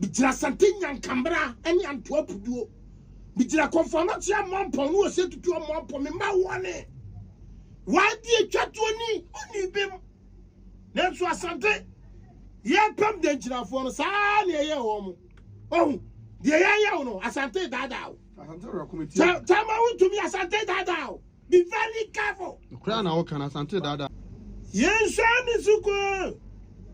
Megyina Asante Nyankamera ne Antoa Puduo. Megyina Kɔmfoanokyea Amoampɔn ne Ose Tutu Amoampɔn. Me mma wɔne YB atwa toɔ ni ɔnii bem. Nanso Asante yɛrepam Dankyirafoɔ no saa ara na yɛyɛɛ wɔn mo. Wahu? Deɛ yɛnyɛ wo no Asante daadaa wo. Asante werɛ ko me tie o. Kyama wontumi Asante daadaa wo. Be very careful. Kura na woka na sante dada. Yɛnsua ne so kwa.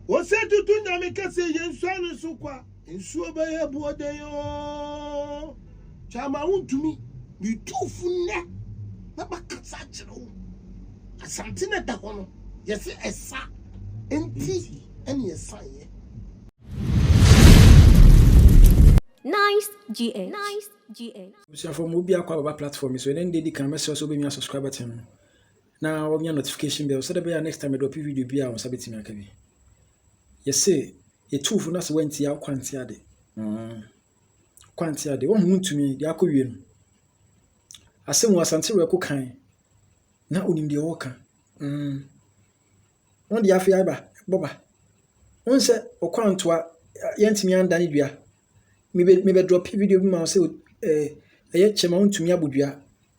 Wɔsɛ tutu nyame kɛse yɛnsua ne so kwa. Nsuo bɛyɛ boɔ dɛn oo. Kyama wontumi. Metuufo nnɛ na makasa akyerɛ wo. Asante na da hɔ no yɛse ɛsa nti ɛne ɛsan yɛ. Nice GH. GH. Abusuafo ma obi akɔ ababa platform yi so ɛnɛ nde di kan mɛsrɛ sɛ wobɛnwia subscribe button no na wɔnwia notification bell sɛdɛ bɛyɛ a next time mɛdrɔpe video bi a wo nsa bɛtumi aka bi yɛse yɛtu fo na sɛ woanti a wokɔ ante ade mm. wokɔ ante ade wohu wontumi deɛ akɔ wie no asɛm wɔ asante werɛ ko kan na onim deɛ wɔka mm. Wɔn deɛ afei aba bɔba. Wohu sɛ Ɔkwantoa yɛntumi anda ne dua. Mebɛ mebɛ drɔpe video bi ma wo sɛ ɛɛ ɛyɛ kyɛ ma wontumi abɔ dua.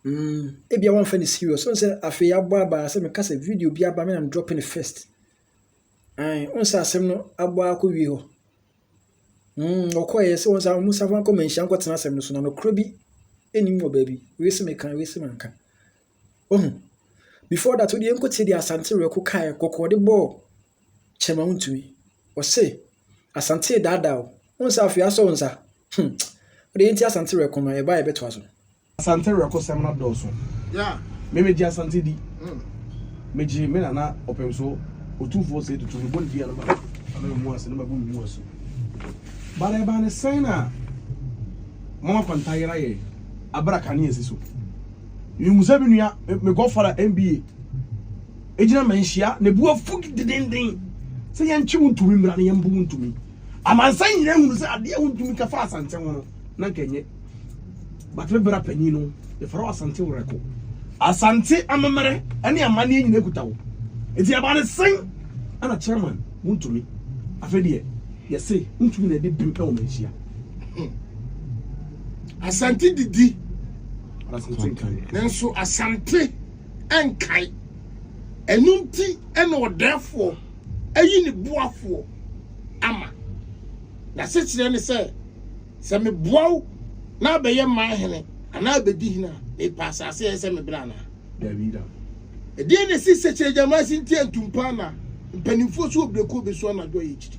Mm, ebia wɔmfa ne serious. Wohu sɛ afei abɔ aba sɛ meka sɛ video bi aba me na drɔpe ne first. Ae, wohu sɛ asɛm no abɔ akɔ wie hɔ. Mm, wɔkɔɛ sɛ wɔn sɛ wɔn safa nkɔ manhyia nkɔtena asɛm no so na nokorɛ bi ɛnim wɔ baabi. Wei sɛ meka, wei sɛ manka. Wohu? Before that, wode yɛnkɔtie deɛ Asante Werɛko kaeɛ, kɔkɔ ɔde bɔɔ kyɛma wontumi. Ɔse, Asante redaadaa o, wohu sɛ afei asɔ wo nsa? Hmm, wode yɛntie Asante Werɛko no, yɛba a yɛbɛtoa so. Asante Werɛko sɛm no adɔɔso. Me megye Asante di. Megye me nana Ɔpemso Otumfoɔ Osei Tutu, mebɔ ne din a na ma ano mmu ase, na mabu me mu asu. But ɛbaa ne sɛn na Mama Kwanta yera yɛn, abere a kanea si so. Mihu sɛ me nua, me, me godfather MBA, egyina manhyia, na ebu afu dendenden sɛ yɛntwe wo ntumi mmra na yɛmbu wo ntumi. Amansan nyinaa hunu sɛ adeɛ a wontumi ka fa asante ho no, na nka nyɛ. But me bra panyin no, yɛfrɛ wo asante werɛko. Asante amemmerɛ ne amanneɛ nyinaa kuta wo. Nti ɛba ne sen, ɛna chairman, wontumi. Afei deɛ, yɛse wontumi na ɛde bem ɛwɔ manhyia. Asante didi. Asante nkae. Nanso Asante nkae. Ɛno nti ɛna ɔdɛɛfoɔ ayi ne boafoɔ ama. N'asekyerɛ ne sɛ, sɛ meboa wo na abɛyɛ mmaa hene anaa abɛdi hene a, mepa asase a ɛyɛ sɛ me berɛ anaa? Dabi da. Ɛdeɛn na ɛsi Sekyerɛ Gyamasi nti antumpa na mpanimfoɔ so wɔ berɛkuo bɛsu anadwo a yɛkyiri?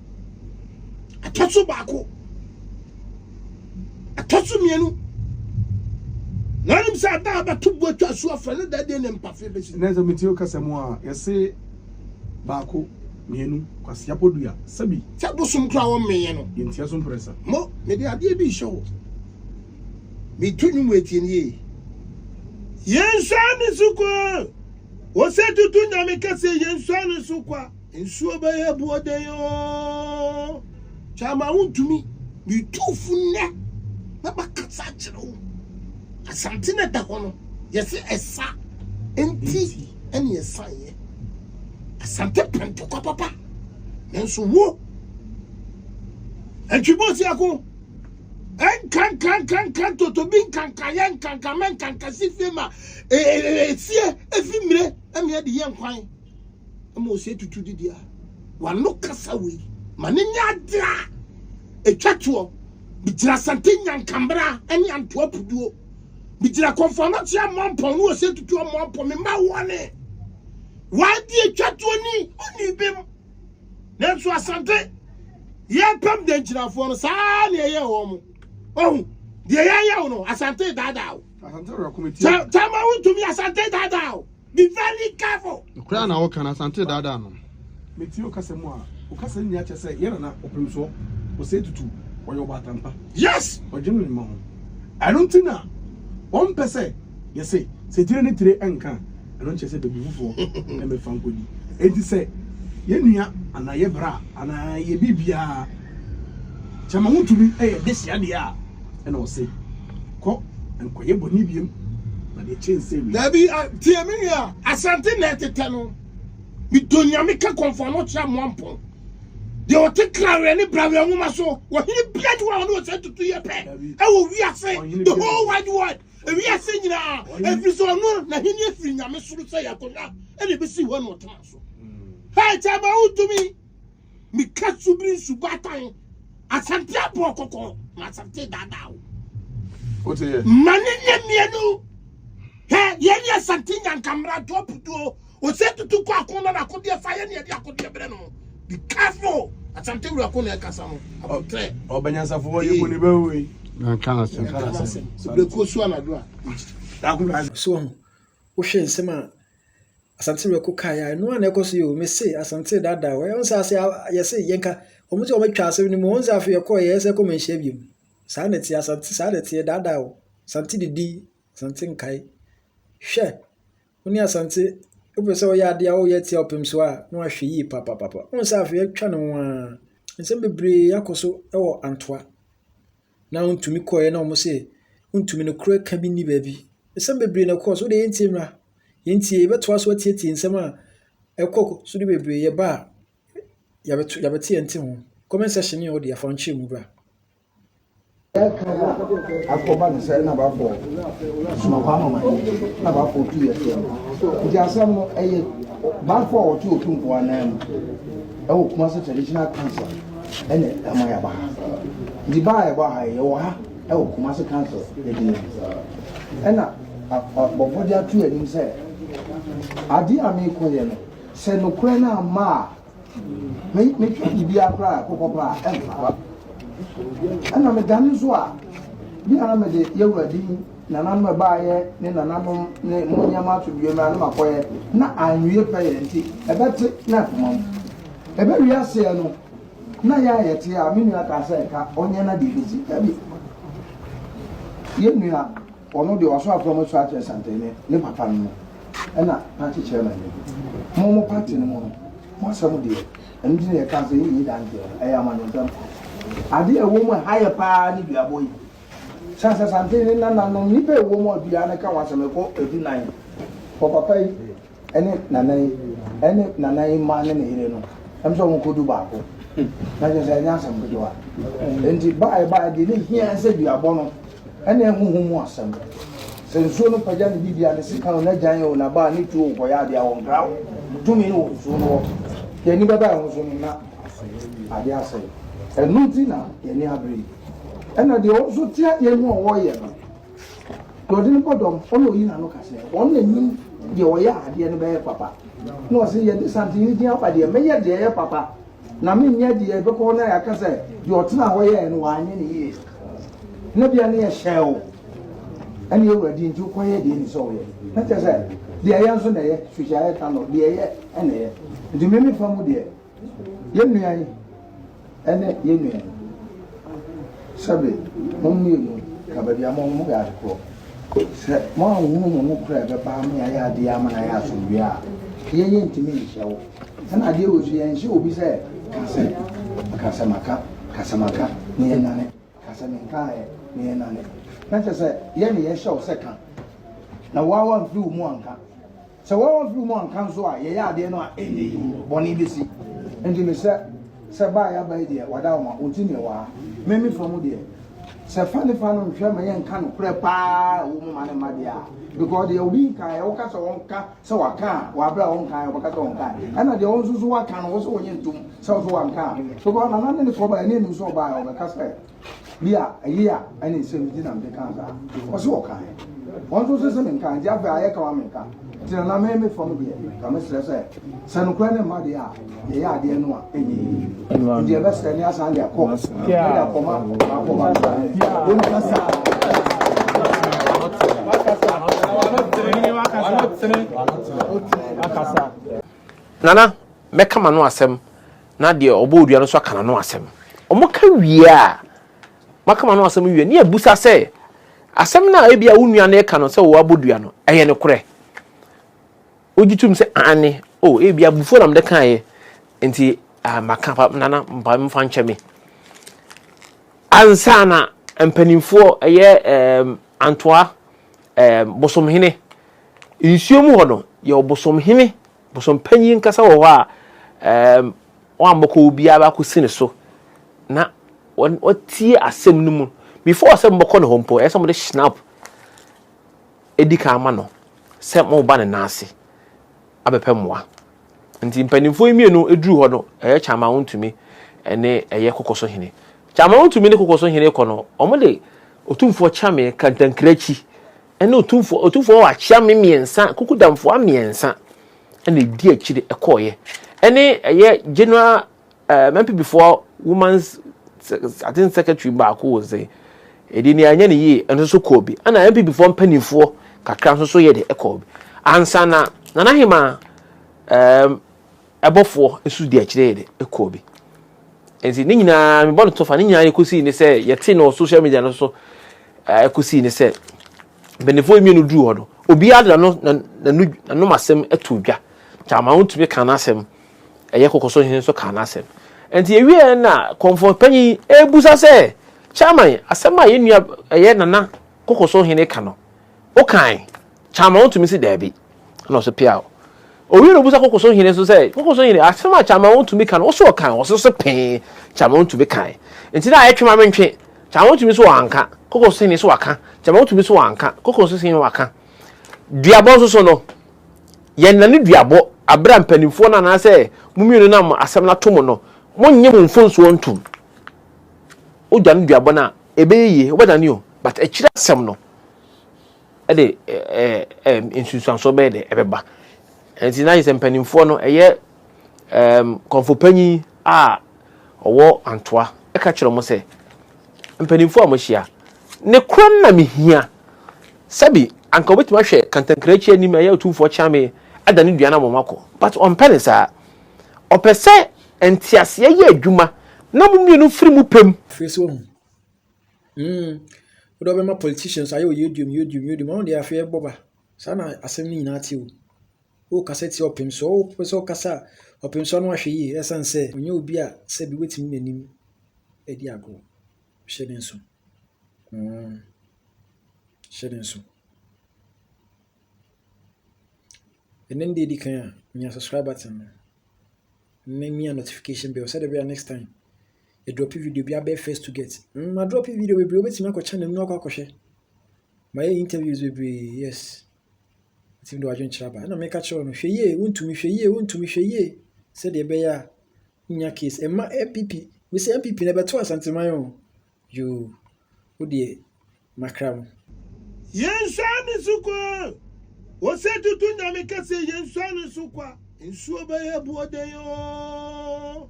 ɛtɔ so baako ɛtɔ so mmienu na anim sɛ ada a bɛto bo atwa so afrɛ no da deɛ ne mpafe bɛsi na sɛ metie kasa mu a yɛse baako mmienu kwasea podua sɛbi sɛ bosom kora wɔ mmeyɛ no yɛntia so mprɛsa mo mede adeɛ bi hyɛ wo meto nwom atie nie yɛnsua ne so kwa ɔsɛ tutu nyame kɛse yɛnsua ne so kwa Nsuo bɛyɛ aboɔden oo. Kyaama wontumi. Metu wo fo nnɛ na makasa akyerɛ wo. Asante na ɛda hɔ no, yɛse ɛsa nti ɛne ɛsaeɛ. Asante pɛ ntɔkwa papa, nanso wo Atwiboosi ako, ɛnkankankanka ntotobi nkankayɛ nkankamɛ nkankasifie ma esie efi mmire ɛmeɛ de yɛ nkwan. ma ɔsɛ tutu didi a wano kasa wei ma ne nyɛ adeɛ a ɛtwa toɔ megyina sante nyankambra ne antoa puduo megyina kɔmfɔnɔkye amoampɔn ne ɔsɛ tutu amoampɔn mema wɔne wadeɛ twa toɔ ni ɔni bem nanso asante yɛpam da nkyinafoɔ no saa ne ɛyɛ wɔ mo ɔhu deɛ yɛyɛ wo no asante daadaa wo tama wontumi asante daadaa wo Be very careful. Kura na woka na Asante daadaa no. Metie okasa mu a, okasa nyinaa kyerɛ sɛ yɛn nana ɔpem soɔ, ɔsɛ tutu, ɔyɛ ɔbaatampa. Yes! Ɔdwene ne mma ho. Ɛno nti na wɔmpɛ sɛ yɛse sɛ tire ne tire nka a, ɛno nkyerɛ sɛ bɛbu fofoɔ ɛmɛ fa nkɔdi. Enti sɛ yɛn nua anaa yɛ bra anaa yɛ biribiara kyɛma ho tumi ɛyɛ de hyɛ adeɛ a, ɛna ɔse. Kɔ, nkɔyɛ bɔne biom, na deɛ ɛkyɛn sɛ wei. Daabi, a, tie me nua, Asante na ɛtetɛ no. Medɔ Nyame ka kɔmfoɔ no kyerɛ Amoampɔn. Deɛ ɔte kraweɛ ne braweɛ nwoma so, ɔhene bia ni hɔ a ɔne ɔsɛ tutu yɛ pɛ ɛwɔ wiase, the whole wide world, ewiase nyinaa, ɛfiri sɛ ɔno na hene afiri Nyame soro sɛ yɛ akonnwa ɛna ɛbɛsi hɔ ɛna ɔtena so. Hɛɛ, kyɛma wontumi. Mika su biri nsu baatan. Asante abɔ kɔkɔ ma asante daadaa wo. Ma ne nyɛ mmienu. Hɛ yɛn yɛ asante nyankamra ntɔ putuo. Ose tutu kɔ ako na n'akodeɛ fa yɛn yɛde akodeɛ brɛ no. Be careful. Asante wura ko na ɛkasa no. Abɔtrɛ. Ɔbɛnyansafo hɔ yɛ mu ne bɛwo yi. Nanka n'asɛm. Nanka n'asɛm. Ebire kuo su anadwo a. So wohwɛ nsɛm a Asante mako kaa ya ɛno ana ɛkɔ so yɛ o mese asante dada o ɛho sɛ ase yɛse yɛnka wɔn sɛ wɔn atwa asɛm no mu wɔn sɛ afei ɛkɔ yɛ sɛ kɔmɛ nhyia biom saa na ɛte asante saa na ɛte dada o asante didi asante nkae hwɛ wɔn asante wopɛ sɛ wɔyɛ adeɛ a wɔyɛ atia ɔpem so a na wɔahwɛ yie papapapa wɔn sɛ afei atwa no ho a nsɛm bebree akɔ so wɔ antoa na ɔntumi kɔeɛ na wɔn se ntumi no korɛ ka bi nni baabi. Nsɛm bebree na ɛkɔɔ so, wode yɛntie mmra. Yɛntie, yɛbɛtoa so atietie nsɛm a ɛkɔ so de bebree yɛba a yɛbɛto yɛbɛte yɛn te ho. Comment section ne ɔde afa nkyerɛ mu bra. akɔba no sɛ na bafo somapa ama ma na bafo tu yɛ fɛ nti asɛm no ɛyɛ bafo a wɔte otumfoɔ anan mu ɛwɔ Kumasi Traditional Council ɛna ɛma yɛaba ha nti baa a yɛba ha yɛwɔ ha ɛwɔ Kumasi Council ɛdini mu ɛna bɔfo de ato anim sɛ adeɛ a meekɔyɛ no sɛ nokorɛ no amma a metwa biribiara koraa ɛkokɔ paa ɛmfa ɛna medane so a bi a na mede yɛwura din Nananom ɛbaeɛ ne nananom ne mo nneɛma ato dua mu a na makɔeɛ na anwie pɛyɛ nti ɛbɛte na akoma mu. Ɛbɛwie aseɛ no na yɛ a yɛte a me nua kaa sɛ nka ɔnyɛ na deɛ ɛbɛsi. Dabi, yɛn nua ɔno deɛ waso afra mu asu akyerɛ Santene ne papa no no ɛna party chairman no bi. Mo mo party no mu no mo asɛm deɛ ɛno nti na yɛkaa sɛ yɛnyi danteɛ no ɛyɛ amanyɔsɛm. Adeɛ a ɛwɔ mu a ɛha yɛ paa ne duabɔ yi. San sɛ santen ne nananom nnipa a ɛwɔ mu a dua no ka ho asɛm ɛkɔ edu nan. Wɔ papa yi ɛne nana yi ɛne nana yi mma ne ne yere no ɛm sɛ wɔn kɔ du baako na kyerɛ sɛ ɛnyɛ asɛm ketewa nti ba a ɛba deɛ ne hia sɛ duabɔ no ɛne ɛhoho mu asɛm sɛ nsuo no pagya ne bibi a ne sika o na gyan o na ba ne tuo o kɔyɛ adeɛ a wɔn kra o tumi no wɔ nsuo no hɔ deɛ ni bɛba ɛho so no na adeɛ asɛe ɛno nti na yɛne abere yi Ɛna deɛ ɔno nso te adeɛ no a ɔreyɛ no, deɛ ɔde no bɔ dɔm, ɔno ɔyi n'ano ka sɛ, ɔno na nim deɛ ɔyɛ a adeɛ no bɛyɛ papa. Na ɔse, yɛde santene din aba deɛ, mɛyɛ deɛ ɛyɛ papa, na menyɛ deɛ ɛbɛkɔ hɔ no a yɛaka sɛ, deɛ ɔtena hɔ yɛɛ no, wanyɛ no yie. Na bia ne yɛhyɛɛ wo, ɛne awurade nti wokɔyɛ deɛ ni sɛ ɔyɛ. Na kyerɛ sɛ, deɛ ɛyɛ nso na ɛyɛ, suhyɛ ayɛ ta no, deɛ ɛyɛ ɛna ɛyɛ. Nti meme fa mu deɛ, Yɛn nua yi ne yɛn nua yi, sɛbe mo mmienu ka baabi a mo mo yɛ ade korɔ. Sɛ mo a wɔhunu mo no kora ɛbɛba ama yɛayɛ adeɛ ama no ayɛ asomdwoeɛ a, yɛn yɛntumi nhyɛ wo. Ɛna adeɛ wɔ so yɛnhyɛ obi sɛ ka sɛ ka sɛ maka ka sɛ maka na yɛnane ka sɛ menkaeɛ na yɛnane. Na kyerɛ sɛ yɛne yɛhyɛ wo sɛ ka na woa wamfiri wo mu anka. Sɛ wɔamfiri mu anka nso a, yɛyɛ adeɛ no a, ɛnyɛ yie, bɔne bɛsi. Nti mesrɛ sɛ ba a yɛaba yi deɛ, wada wo ma wonte neɛ ɛwɔ ha. Me me fa mu deɛ, sɛ fa ne fa no nhwɛ ma yɛnka nokorɛ pa ara a ɛwɔ mu ma ne mma deɛ a, because deɛ obi nkaeɛ, woka sɛ ɔnka sɛ waka a, wɔ aberɛ a ɔnkaeɛ ɔbɛka sɛ ɔnkaeɛ. Ɛna deɛ wo nso so woaka no, wo se wonye ntom sɛ wo so wanka a, because nana ne ne kɔbaeɛ na ɛnim sɛ ɔbaeɛ a, ɔbɛka sɛ Bi a, ɛyɛ a ɛne nsɛm bi nti na mede kaa saa. Ɔse wɔkaeɛ. Wɔn nso se sɛ menkaa, nti afei ayɛ kawa menka. Nti na na me me fam deɛ, nka mesrɛ sɛ, sɛ nokorɛ no mma deɛ a, yɛyɛ adeɛ no a, ɛnyɛ yie. Nti yɛbɛsrɛ ne asan de akɔ, de akɔma akɔma no. Wɔn kasa. Nana, mɛka m'ano asɛm. na deɛ ɔbɔɔ dua no nso aka n'ano asɛm. Wɔka wie a, wɔaka wɔn ano asɛm wie a, na yɛbisa sɛ, Asɛm no a ebia wo nua no reka no sɛ wɔabɔ dua no, ɛyɛ nokorɛ? Wogye tom sɛ, Aane. O, ebia abufuo na mede kaeɛ, enti maka. Nana, momfa nkyɛ me. Ansa na mpanimfoɔ, ɛyɛ Antoa, Bosomhene, nsuo mu hɔ no, yɛwɔ Bosomhene Bosompanyin ankasa wɔ hɔ a wɔammɔkɔ obiara akosi ne so na wɔatsie asɛm no mu. Before sɛ mobɔkɔ no hɔ mpo, ɛyɛ sɛ mode Schnapp di kan ma no sɛ moreba ne nan ase abɛpɛ mmoa. Ntsi mpanyimfo yi mmienu dur hɔ no, ɛyɛ Kyamawontumi ne ɛyɛ Kokosohene. Kyamawontumi ne Kokosohene kɔ no, wɔde Otumfoɔ Kyame kantankrankyi Ɛnna otumfoɔ otumfoɔ hɔ akyea me mmiɛnsa kuku damfoɔ mmiɛnsa ɛnna edi akyire ɛkɔɔeɛ ɛne ɛyɛ general ɛɛ mɛmpibifoɔ woman's I think secretary baako wɔ sɛ ɛdi ni anyɛ ne yie ɛno nso kɔɔ bi ɛnna mɛmpibifoɔ mpanimfoɔ kakra nso so yɛ de ɛkɔɔ bi ansa na nana hemaa ɛɛm. Um, Ɛbɔfoɔ nso di akyire de kɔɔ bi. Nti ne nyinaa mebɔ no tofa ne nyinaa yɛ kɔsii ne sɛ yɛte no social media no so ɛkɔsii ne sɛ mpanimfoɔ yi mmienu duru hɔ no obiara de n'ano n'ano n'anom asɛm ato dwa kyama wontumi ka n'asɛm ɛyɛ kɔkɔ so hene nso ka n'asɛm nti yɛwieɛ na kɔmfɔ panyin ebusa sɛ chairman asɛm a yɛn nua ɛyɛ nana kɔkɔ so hene ka no wokan Kyaman tumi se daabi, ɛna ɔse peaw. Owie no obusa Koko so hene nso sɛ, Koko so hene, asem a Kyaman tumi ka no, ose ɔkan? Ɔse ose pee, Kyaman tumi kan. Nti na ayɛ twe ma mentwe. Kyaman tumi se wanka, Koko so hene se waka. Kyaman tumi se wanka, Koko so hene waka. Duabɔ nso so no, yɛnnane duabɔ bere a mpanimfoɔ no anaasɛ mo mmienu no nam asem no ato mo no, monnye mo mfonsoɔ ntom. Wodwane duabɔ no a, ɛbɛyɛ yie, wobɛdane o, but akyiri asem no, de nsunsuansoɔ bɛyɛ dɛ ɛbɛba nti na yɛsɛ mpanimfoɔ no ɛyɛ kɔnfopanyin a ɔwɔ antoa ɛka kyerɛ wɔn sɛ mpanimfoɔ a wɔahyia ne koro no na mehia sɛbi anka wɔbɛtumi ahwɛ kantankrankyi anim ɛyɛ otumfoɔ kyame ada ne dua no wɔn akɔ but ɔmpɛ ne saa ɔpɛ sɛ nteaseɛ yɛ adwuma na mo mmienu firi mu pɛm. Firi so hu Mm, wode wobɛma politicians ayɛ oyedium yedium yedium ɔno deɛ afei ɛbɔ ba saa na asɛm no nyinaa te o wokasa tia ɔpem so wopɛ sɛ wokasa a ɔpem so ano ahwɛ yie ɛsiane sɛ ɔnyɛ obi a sɛ bi wobɛtumi n'anim adi agorɔ hyɛ ne nso mm. hyɛ ne nso ɛnɛ no deɛ ɛdi kan a menya subscribe button no na mia notification bell sɛdeɛ bɛyɛ next time Medrɔpe video bi abɛyɛ first to get. Mm, madrɔpe video bebree, wobɛtumi akɔ channel mu akɔ akɔhwɛ. Mayɛ interviews bebree, yes. Ɛtumi de wadwenkyerɛ aba. Ɛna meka kyerɛ no, hwɛ yie, wontumi, hwɛ yie, wontumi, hwɛ yie. Sɛdeɛ ɛbɛyɛ a, wonya case. Ɛma MPP, mesɛ MPP na ɛbɛto Asanteman o. Yoo, wodeɛ, makra mu. Yɛnsoa ne so kwa Ose tutu Nyame kɛseɛ Yɛnsoa ne so kwa Nsuo bɛyɛ boɔ dɛn oo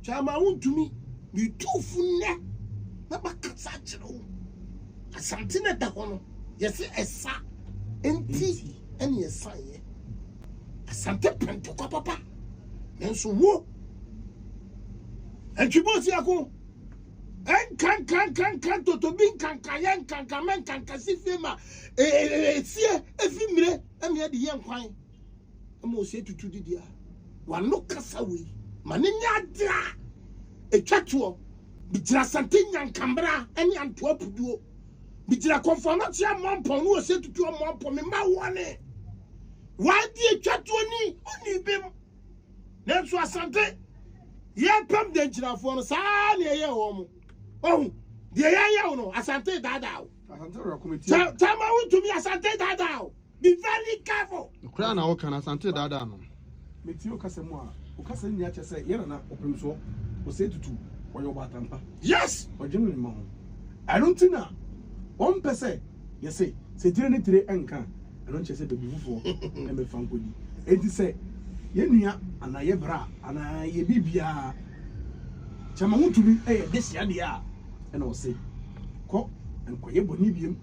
Kyama wontumi Metu fo nnɛ na makasa akyerɛ wo Asante na ɛda hɔ no yɛse ɛsa Nti ɛne ɛsaeɛ Asante pɛ ntɔkwa papa Nanso wo Antwi bɔɔsi ako Ɛnkankankanka ntotobi nkanka yɛ nkanka mɛ nkanka si fie ma esie efi mmire ɛmi ɛde yɛ nkwan ɛma osie tutu didi a wano kasa wei ma ne nyɛ adeɛ a etwa toɔ bigyina asante nyankambra ɛne antoa puduo bigyina kɔnfɔn no tia mɔmpɔn ne osie tutu ɔmɔmpɔn mi ma wɔne wɔn adeɛ etwa toɔ ni ɔni bim. Nanso Asante yɛrepam Dankyirafoɔ no saa ara na yɛyɛɛ wɔn. Ohu, deɛ yɛnyɛ wo no, Asante daadaa wo. Kyɛ kyɛ ma wontumi Asante daadaa wo. Be very careful. Koraa na woka no, Asante daadaa no. Metie wo kasa mu a, wo kasa nyinaa kyerɛ sɛ yɛn nana ɔpemsoɔ, ɔsɛe tutu, ɔyɛ ɔbaatampa. Yes! Ɔdwene ne mma ho. Ɛno nti na wɔmpɛ sɛ. Yɛse, sɛ tire ne tire nka a, ɛno nkyerɛ sɛ babibufoɔ na ɛmɛfa nkɔdi. Enti sɛ yɛ nua anaa yɛ bra anaa yɛ biribiara kyɛ ma wotumi yɛ dehye adeɛ a, ɛna ɔse, kɔ nkɔyɛ bɔne biom,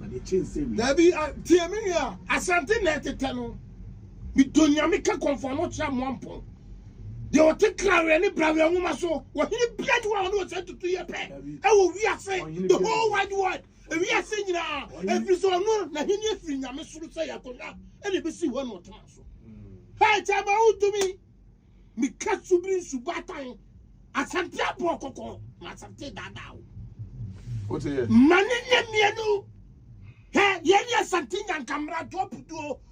na deɛ kyɛn sɛ wei. Dabi, tie me nua, Asante na ɛtetɛ no, me dɔ Nyame ka kɔmfoɔ no kyerɛ Amoampong. Deɛ ɔte Kraweɛ ne Braweɛ nwoma so, ɔhene biara ni hɔ a ɔne ɔsɛ tutu yɛ pɛ wɔ wiase, the whole wide world. Wiase nyinaa, ɛfiri sɛ ɔno n'ahenni afiri nyame soro sɛ yɛ akonnwa ɛna ɛbɛsi hɔ na ɔtena so. Hɛ kyɛ ma wotumi meka subiri nsubatan asante aboɔ kɔkɔɔ ma asante daadaa wo. Mane ne mmienu hɛ yɛne asante nyankammeratoɔ puduo